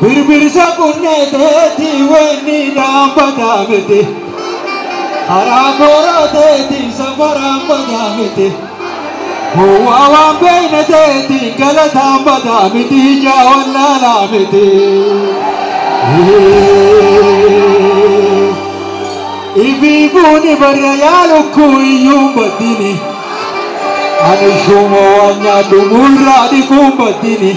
Birbirsa qunnee teeti weenni dhaabbataa miti. Karaa booroo teeti safaraan badaa miti. Gowwaa waan beeyne teeti galataan badaa miti ijaa wallaalaa miti. Ifii buuni barra yaa lukkuu iyyuu baddini. Ani shuuma waan nyaadhu muurraa dhiquun baddini.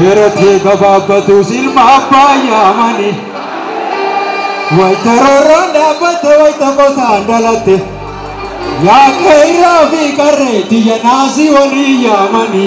dheeratee gabaabbatuus ilma abbaa yaamani wayita roorroon dhaabbatte wayita qosaan dhalatte yaa qeerraa fi qarree tiyya naasii walii yaamani.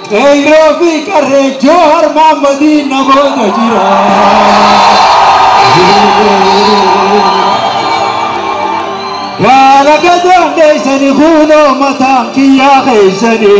Qeerroo fi qarree Joohar Maammadii na booda jira. Gaala gadoon dheessani kuunoo mataan kiyyaa keessanii.